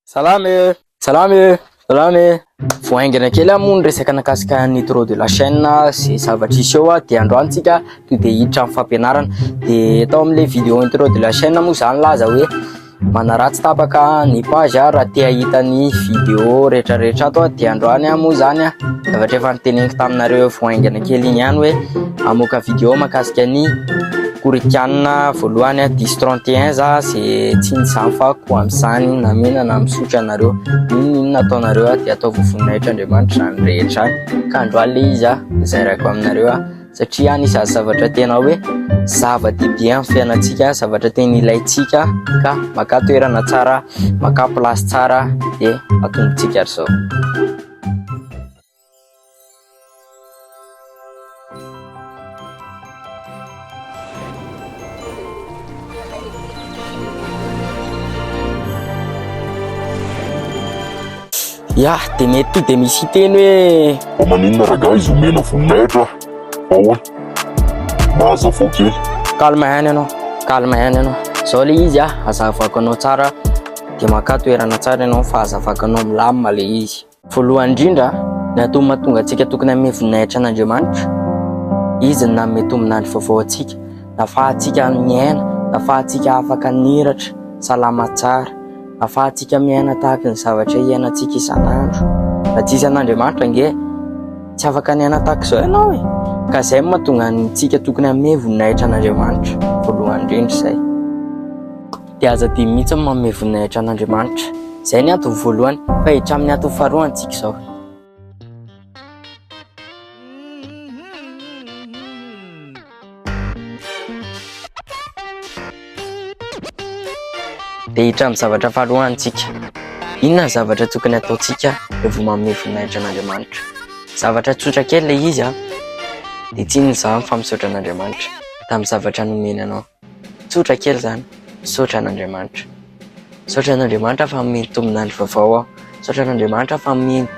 Salama e! Salama e! Salama e! Vao haingana kely aho moa ny resaka nakasika ny trop de la chaîne sy zavatra hisy eo dia androany tsika to dia hiditra amin'ny fampianarana dia tao amin'ilay vidéo ny trop de la chaîne moa zany laza hoe manaratsy tapaka ny page aho raha te hahita ny vidéo rehetra rehetra ato dia androany aho moa zany a zavatra efa niteneniko taminareo vao haingana kely iny ihany hoe amoaka vidéo makasika ny Korikianina voalohany diso 31 za ze tsy ny zany fa ko amizany na mena na misotra anareo inona inona ataonareo dia atao vovoninahitra andriamanitra zany rehetra zany ka androany le izy a zay raiko aminareo a satria any isan'ny zavatra tena hoe zava-dehibe amin'ny fiainantsika zavatra tena ilaintsika ka maka toerana tsara maka place tsara dia atombotsika ry zao Ya, dia ny ety dia misy hiteny hoe Fa maninona ragaha izy omena voninahitra fa hoe mahazavao kely. Calme ihany ianao, calme ihany ianao. Izao le izy ah, azavako anao tsara dia makà toerana tsara ianao fa azavako anao milamina le izy. Voalohany indrindra, ny antony mahatonga antsika tokony hanome voninahitra an'Andriamanitra, Izy no nanome tombon'andro vaovao antsika, nahafahantsika miaina, nahafahantsika afaka niratra salama tsara, nahafahantsika miaina tahaka ny zavatra iainantsika isan'andro. Raha tsy hisy an'Andriamanitra ange, tsy afaka niaina tahaka izao ianao e! Ka izay no mahatonga antsika tokony hanome voninahitra an'Andriamanitra, voalohany indrindra izay. dia aza adino mihitsy ny manome voninahitra an'Andriamanitra. Izay ny antony voalohany, fa hiditra amin'ny antony faharoa antsika izao. dia hiditra amin'ny zavatra faharoa antsika. Inona ny zavatra tokony ataontsika rehefa manome voninahitra an'Andriamanitra? Zavatra tsotra kely ilay izy an, dia tsy inona izany fa misaotra an'Andriamanitra tamin'ny zavatra nomeny anao. Tsotra kely izany, misaotra an'Andriamanitra. Misaotra an'Andriamanitra fa mihaino tombin'andro vaovao aho. Misaotra an'Andriamanitra fa mihaino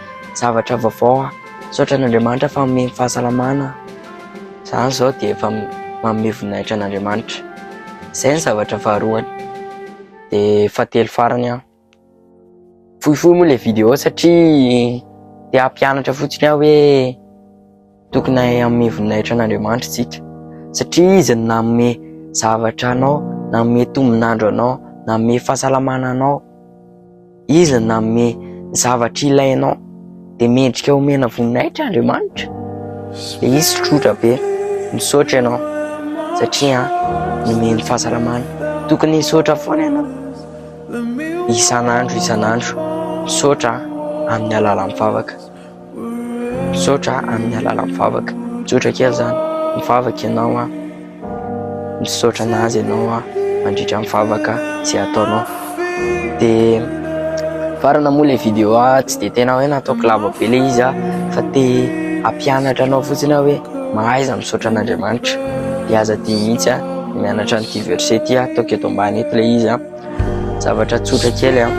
zavatra vaovao aho. Misaotra an'Andriamanitra fa mihaino fahasalamana aho. Izany izao dia efa manome voninahitra an'Andriamanitra. Izay ny zavatra faharoany. Dia fahatelo farany aho. Fohifohy moa ilay vidéo satria te hampianatra fotsiny aho hoe tokony hanome voninahitra an'Andriamanitra isika satria izy no nanome zavatra anao, nanome tombon'andro anao, nanome fahasalamana anao, izy no nanome zavatra ilainao. dia mendrika omena voninahitra Andriamanitra dia izy tsotra be misaotra ianao satria nomeny fahasalamana tokony hisaotra foana ianao isan'andro isan'andro misaotra amin'ny alalan'ny vavaka misaotra amin'ny alalan'ny vavaka misaotra kely zany ny vavaka ianao an Misaotra an'azy ianao aho mandritra ny vavaka izay ataonao. Dia farana moa ilay vidéo aho tsy dia tena hoe nataoko lava be ilay izy aho fa te hampianatra anao fotsiny aho hoe mahaiza misaotra an'Andriamanitra. Dia aza adino mihitsy aho mianatra an'ity verset ity ataoko eto ambany eto ilay izy aho. Zavatra tsotra kely an,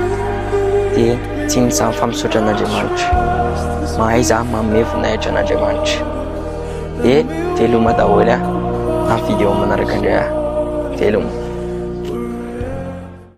dia tsy ny samy famisotra an'Andriamanitra. Mahay za manome voninahitra an'Andriamanitra. Dia veloma daholo an, amin'ny vidéo manaraka indray an. Veloma.